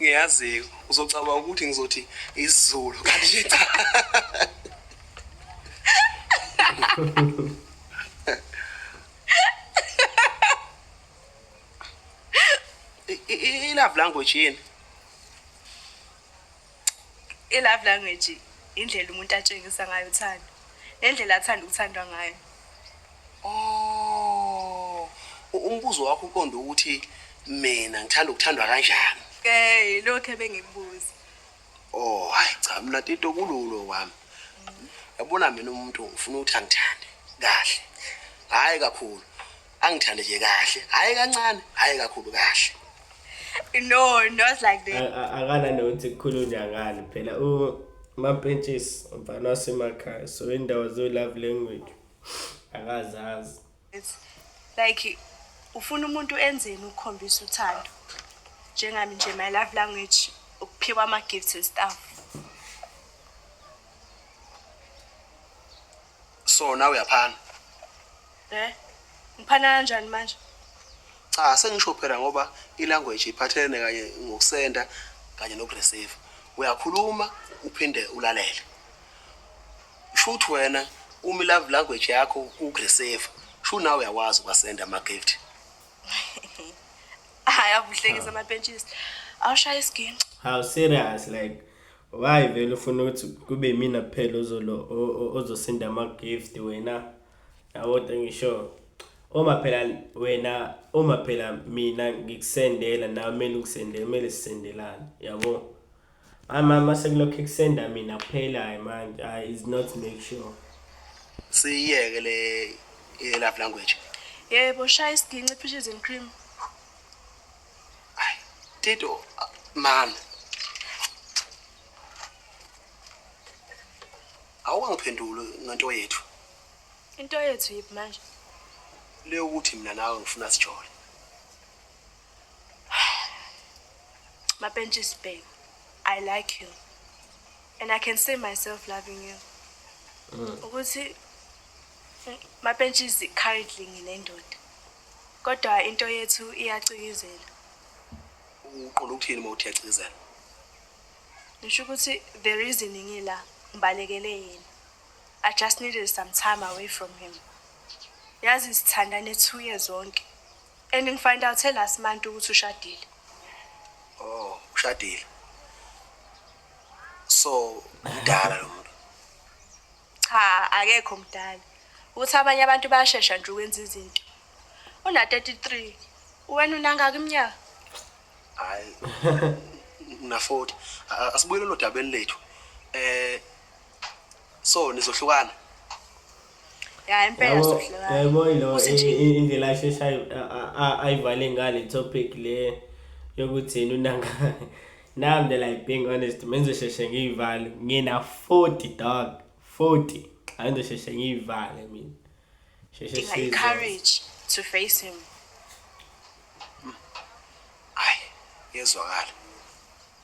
ngiyazi uzocabanga ukuthi ngizothi isizulu kanti cha i-love language yini I-love language indlela umuntu atshengisa ngayo uthando nendlela athanda ukuthandwa ngayo oh umbuzo wakho uqonde ukuthi mina ngithanda ukuthandwa kanjani okay lokho ebengikubuza oh hayi cha mina tito kululo wami yabona mina umuntu ngifuna ukuthi angithande kahle hayi kakhulu angithande nje kahle hhayi kancane hhayi kakhulu kahle no not like that akana nokuthi kukhulunywa ngani phela umampentshisi mfana wasemakhaya so indawo zo-love language akazazi like ufuna umuntu enzeni ukukhombisa uthando njengami nje my love language ukuphiwa ama-gifts and stuff so nawe uyaphana Eh? Ngiphana kanjani manje? cha sengisho phela ngoba ilanguage iphathelene kanye ngokusenda kanye nokureceive uyakhuluma uphinde ulalele sho ukuthi wena uma ilove language yakho ukureceive sho nawe uyakwazi ukwasenda ama-gift Hayi avuhlekisa amapentshisi. Awushaya isiginci. how serious like Why vele ufuna ukuthi kube yimina kuphela ozolo o- o- ozosinda ama-gift wena yabodwa ngisho uma phela wena uma phela mina ngikusendela nawe kumele ungisendele kumele sisendelane yabo hayi mama sekulokhu ekusenda mina kuphelayo manje hayi is not make sure siyiyeke le i-love language yebo shaya isiginci phishes and cream Tito, mama. Awungiphendule ngento yethu. Into yethu yiphi manje? Le ukuthi mina nawe ngifuna sijole. Mapentshisi babe, I like you. And I can see myself loving you. Mm. Ukuthi Mapentshisi currently nginendoda. Kodwa into yethu iyacikizela. Uqonda ukuthini uma uthi iyacikizela? Ngisho ukuthi the reason ngila ngibalekele yena. I just needed some time away from him. Yazi sithandane two years zonke. And ngifind out last month ukuthi ushadile. Oh, ushadile. So, mdala lo muntu. Cha akekho mdala. Uthi abanye abantu bayashesha nje ukwenza izinto. Una 33. Wena unangaka iminyaka? Hayi. Una 40. Asibuyele lo dabeni lethu. Eh so nizohlukana. Ya impela sohlukana. Yebo yilo indlela ashesha ayivale ngale topic le yokuthi unangaka. Now I'm like being honest, mengizosheshe ngiyivale. Ngina 40 dog, 40. Angizosheshe ngiyivale mina. Sheshe sizo. Courage to face him. Ay, yezwakala.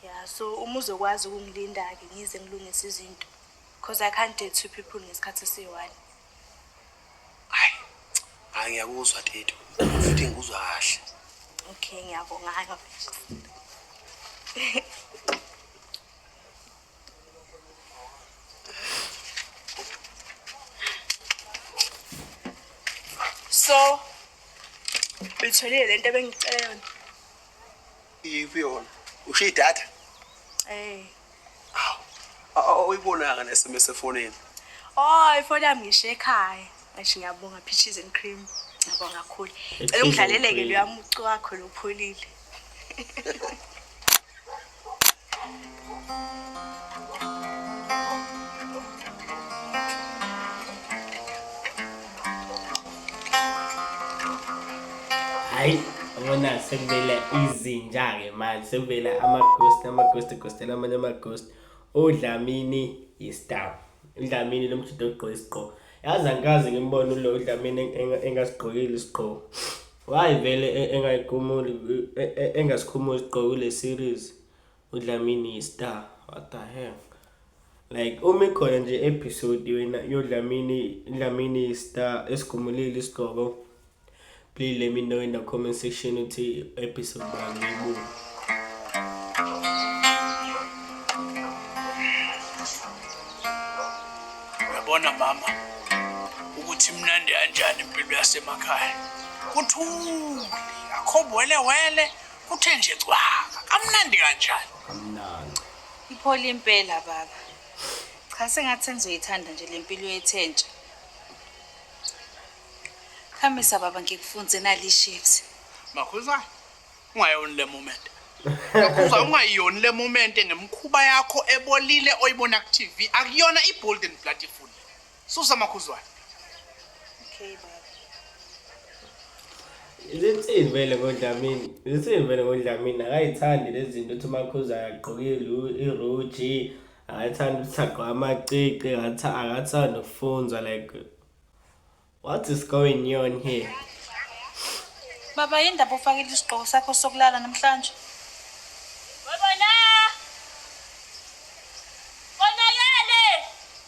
Yeah, so uma uzokwazi ukungilinda ke ngize ngilungise izinto. Because I can't date two people ngesikhathi esiyi-one. Hayi. Hayi ngiyakuzwa Tito. Futhi ngikuzwa kahle. Okay, ngiyabonga. So, uyitholile lento ebengicela yona. Iyiphi yona? Ushiya idatha? Eh. awuyibonanga ne-sms efonini oh ifoni yami ngisho ekhaya eish ngiyabonga peaches and cream ngiyabonga kakhulu cela ungidlalele-ke loya mucu wakho lopholile hayi abona sekuvela izinja-ke manje sekuvela ama-ghost ama-ghost egostela amanye ama-ghost udlamini yistab udlamini lo mjida ogqoke isigqoko yazi angikaze ngimbone ulo udlamini engasigqokile isigqoko why vele e, engayigumuli e, e, engasikhumuli isigqoko kule series udlamini yistar what the hell like uma ikhona nje episode wena yodlamini dlamini yistar esigumulile isigqoko please let me know in the comment section ukuthi episode bani ibuka uyabona mama ukuthi mnandi kanjani impilo yasemakhaya kuthule akho wele wele Kuthe nje cwaka, kamnandi kanjani? Kamnandi. Iphola impela baba. Cha sengathi sengizoyithanda nje lempilo yethentsha. Khamisa baba ngikufunze nali shift. Makhuza, ungayoni le moment. Makhuza ungayoni le moment ngemkhuba yakho ebolile oyibona ku TV. Akuyona i-bold and blood full. Susa makhuzwane. Okay baba. Lithini vele ngoDlamini? Lithini vele ngoDlamini? Akayithandi lezi zinto ukuthi uMakhuza akagqoke iruji, akathandi ukuthi agqoke amacici, akathandi ukufunzwa like what is going on here? Baba yini ndaba ufakile isigqoko sakho sokulala namhlanje?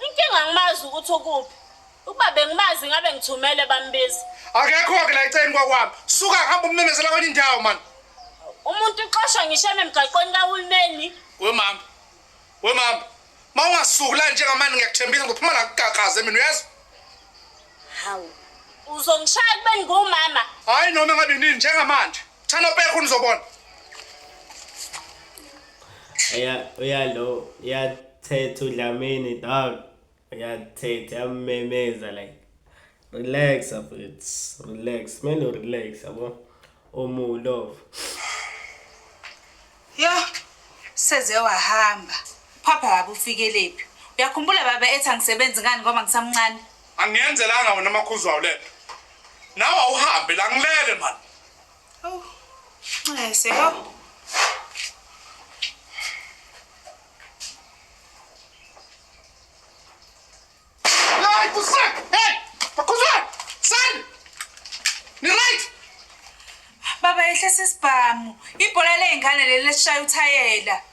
Inkinga ngimazi ukuthi ukuphi. Ukuba bengimazi ngabe ngithumele bambiza. Akekho-ke la eceleni kwakwami. Suka hamba umemezela kwenye indawo mani. Umuntu uxoshwa ngisho ememgaqweni kahulumeni. We mama. We mama. Ma ungasuki la njengamanje ngiyakuthembisa ngizophuma la ngigagaze mina uyazi? Hawu. Uzongishaya kubeni ngumama. Hayi noma ngabe nini njengamanje. Thana pekho nizobona. Uya uyalo uyathetha uDlamini dog. Uyathetha yamemeza like relax it's relax kumele relax yabo omu love yo seze wahamba phapha baba ufikeliphi uyakhumbula baba ethi angisebenzi ngani ngoba ngisamncane angiyenzelanga wena amakhuzwayo lento nawe awuhambe la ngilele mani Awu, nxese, awu. Hey, kusek! Hey! Bakuzwa! Sani! Ni right! Baba yehlisa isibhamu. Ibhola ley'ngane leli lesishaya uthayela.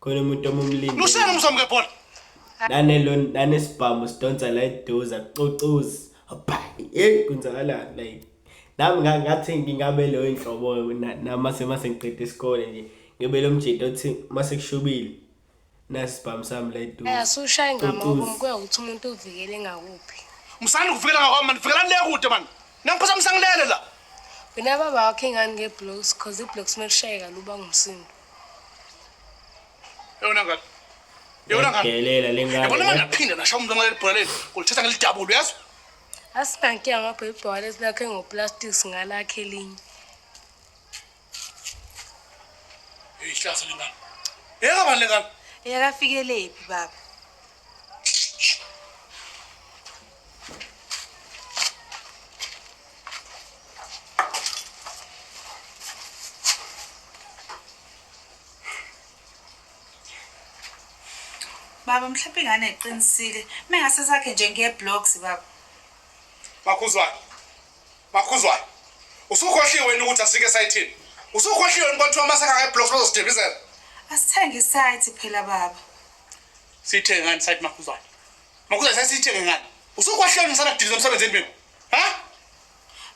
khona umuntu omumlindele lushayela umzamo ngebhola nanelo nanesibhamu sidonsa la eduza cocozi hopha hey kunzakalani like nami nga- ngathi ngingabe leyo inhlobo na- nami mase mase ngiqeda isikole nje ngibe lo mjita othi mase kushubile nasi sibhamu sami la eduza Eh, asushaye ngamobo Cocozi. mkuya ukuthi umuntu uvikele ngakuphi musani kuvikela ngakwami mani vikelani le kude mani nangiphatha musangilele la wena baba wakho ingani nge-blocks cause i-blocks uma lushayeka luba ngumsindo Yona ngani? Yona ngani? Delela lengane. Yabona manje aphinda nasho umuntu ngaleli bhola leli. Kulithatha ngelidabulu uyazi? Asikankiya ngapha ibhola lesi lakhe ngoplastic singalakhe elinye. Ihlazo lengane. Yeka bani lengane? Yeka fikelephi baba? baba mhlawumbe ingane eqinisile mengase sakhe nje ngeblocks baba makhuzwane makhuzwane usukhohliwe wena ukuthi asike esayithini usukhohliwe wena kwathiwa masakha ngeblocks bazosithembisela asithenge isayithi phela baba Sithenge ngani site makhuzane? Makhuzane sasithenge ngani? Usukwahlela ngisana kudiliza umsebenzi endweni. Ha?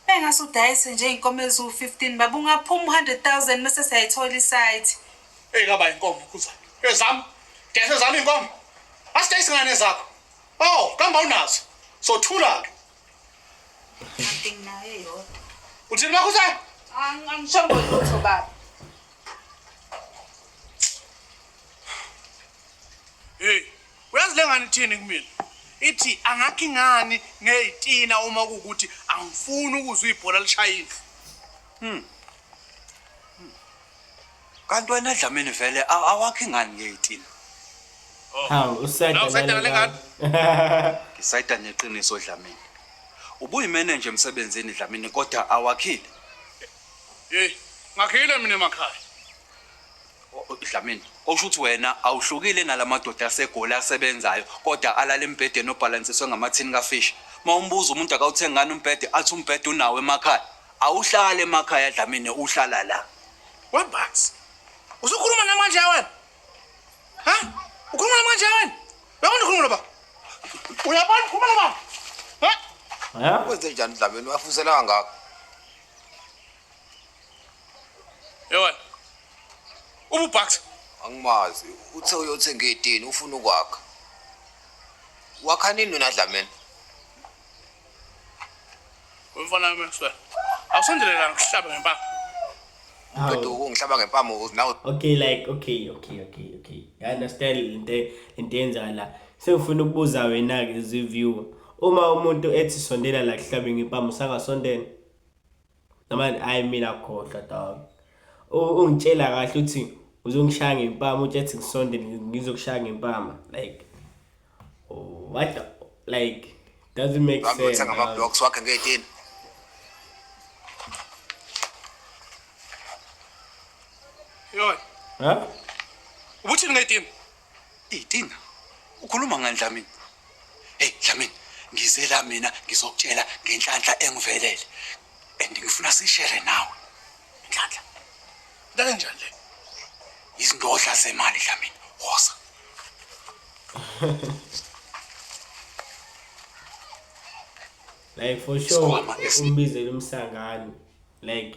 Bengase udayise nje inkomo ezu 15 baba ungaphuma 100,000 bese siyayithola isite. Hey kaba inkomo khuzane. Ezami. Dayisa ezami inkomo. Asidayise ngane zakho. Oh, kamba unazo. Sothula ke. Nothing nayo yodwa. Uthini makhuzane? Angishongo lutho baba. Hey, uyazi lengane ithini kumina? Ithi angakhi ngani ngezitina uma kukuthi angifuni ukuzwa ibhola lishaya indlu. Hmm. hmm. Kanti wena Dlamini vele awakhi ngani ngezitina? Oh. Hawu usayida lengane. Ngisayida neqiniso Dlamini. Ubuyimenenje emsebenzini Dlamini kodwa awakhile. Hey, ngakhile mina emakhaya. Dlamini okusho ukuthi wena awuhlukile nalamadoda asegoli asebenzayo kodwa alala embhedeni obhalansiswe ngamathini kafish uma umbuza umuntu akawuthengani umbhede athi umbhede unawo emakhaya awuhlale emakhaya Dlamini uhlala la webanzi usukhuluma namanje wena ha ukhuluma namanje wena uyabona ukhuluma loba uyabona ukhuluma loba ha wenze njani Dlamini wafusela ngakho Yona. Ubu Bucks. Angimazi. Uthe uyothenga idini ufuna ukwakha. Wakha nini wena Dlamini? Umfana wami Maxwell. Awusondelela ngihlaba ngempama. Kodwa ukungihlaba ngempama nawe. Okay like okay okay okay okay. I understand into into enzala la. Sengifuna ukubuza wena ke ziviewer. Uma umuntu ethi sondela la kuhlabe ngempama usangasondela. namanje ayi mina khohlwa dog ungitshela kahle ukuthi uzongishaya ngempama uthi ethi ngisonde ngizokushaya ngempama like oh, what the, like doesn't make sense ngama blocks wakhe ngeyitini yoy ha ubuthini ngeyitini Hey Tina, ukhuluma ngani Dlamini? Hey Dlamini, ngize la mina ngizokutshela ngenhlanhla engivelele and ngifuna sishere nawe. Inhlanhla. Into enjani le? Izindodla zemali Dlamini. Woza. like for sure Isikhwama esi- umbizela umsangano like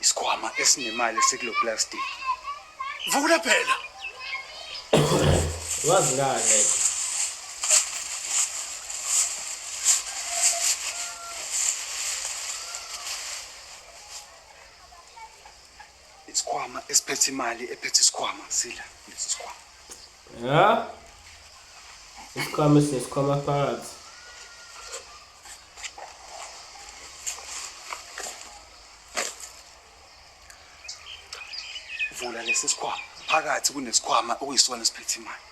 Isikhwama esinemali esikulo plastic. Vula phela. Wazi ngane. Isikhwama esiphethe imali ephethe isikhwama sila lesi sikhwama. Ya. Isikhwama sesikhwama phakathi. Vula lesi sikhwama. Phakathi kunesikhwama okuyisona esiphethe imali.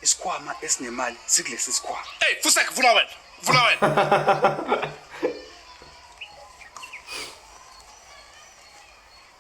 isikhwama esinemali sikulesi sikhwama hey fusek vula wena vula wena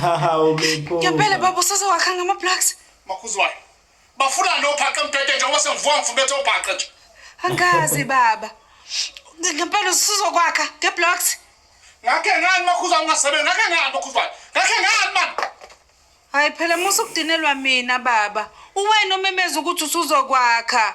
Hawu Mipho. Ngempela baba usase wakha ngama blocks. Makhuzwayo. Bafuna lo phaqe mbhede njengoba sengivuka ngifubethe obhaqe nje. Angazi baba. Ngempela usuzokwakha nge blocks. Ngakhe ngani makhuzwayo ungasebenzi ngakhe ngani makhuzwayo. Ngakhe ngani man. Hayi phela musa ukudinelwa mina baba. Uwena omemeza ukuthi usuzokwakha.